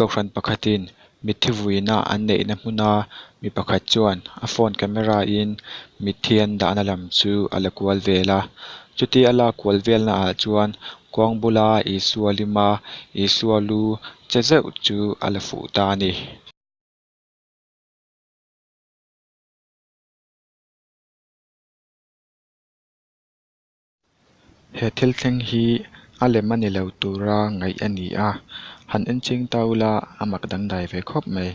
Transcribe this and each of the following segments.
Kohhran pakhatin mithi vuina an neihna hmuna mi pakhat chuan a phone camera in mithi an dahna lam chu a la kual vel a. Chuti a la kual velna ah chuan kawng bula Isua lima Isua lu che zeuh chu a la fuh ta a ni. He thil thleng hi a lem a ni lo tura ngaih a ni a, han enching ta ula a mak dangdai ve khawp mai.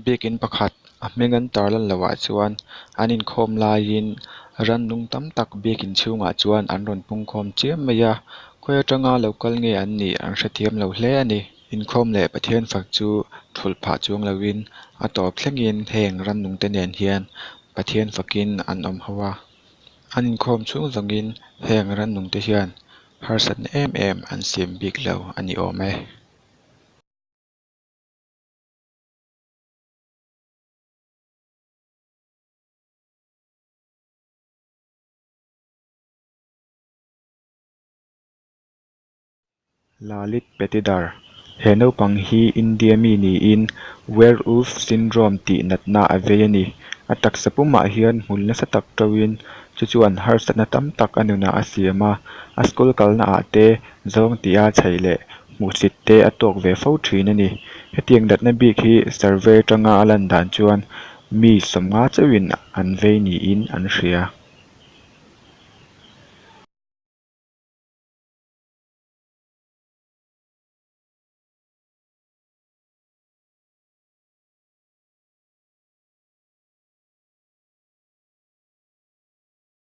Biakin pakhat a hming an tar lan loh ah chuan an inkhawm laiin rannung tam tak biakin chhungah chuan an rawn pungkhawm chiam mai a. Khawi atanga lo kal nge an nih an hrethiam lo hle a ni. Inkhawm leh Pathian fak chu thulh phah chuang loin a tawp thlengin heng rannung te nen hian Pathian fakin an awm ho a. An inkhawm chhung vangin heng rannung te hian harsatna em em an siam bik lo a ni awm e. Lalit Patidar, He naupang hi India mi niin Werewolf Syndrome tih natna a vei a ni. A taksa pumah hian hmul nasa tak ṭauhin chu chuan harsatna tam tak a nunah a siam a. A school kalnaah te zawng tia chhaih leh hmuhsit te a tawk ve fo thin a ni. Hetiang datna bik hi survey atanga a lan dan chuan mi sawmnga chauhin an vei niin an hria.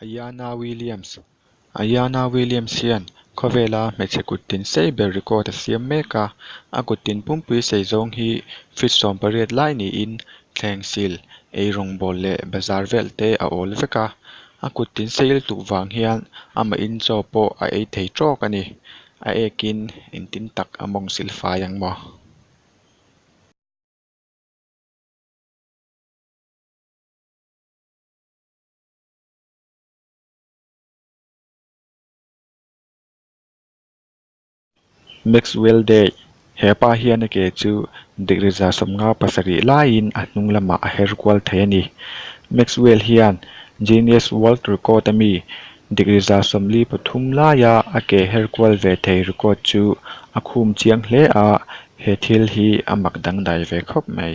Ayanna Williams, Ayanna Williams hian khawvela hmeichhe kuttin sei ber record a siam mek a, a kuttin pumpui sei zawng hi feet sawm pariat lai niin thleng sil, ei rawngbâwl leh bazar vel te a âwl vek a. A kuttin sei il tuh vang hian amahin chaw pawh a ei thei trawk a ni. A ekin engtin tak a mawng sil fai ang maw? Maxwell Dei, He pa hian a ke chu dikriza sawmnga pasarih laiin a hnung lamah a her kual thei a ni. Maxwell hian Guinness World Record a mi dikriza sawmli pathum laia a ke her kual ve thei record chu a khum chiang hle a, he thil hi a mak dangdai ve khawp mai.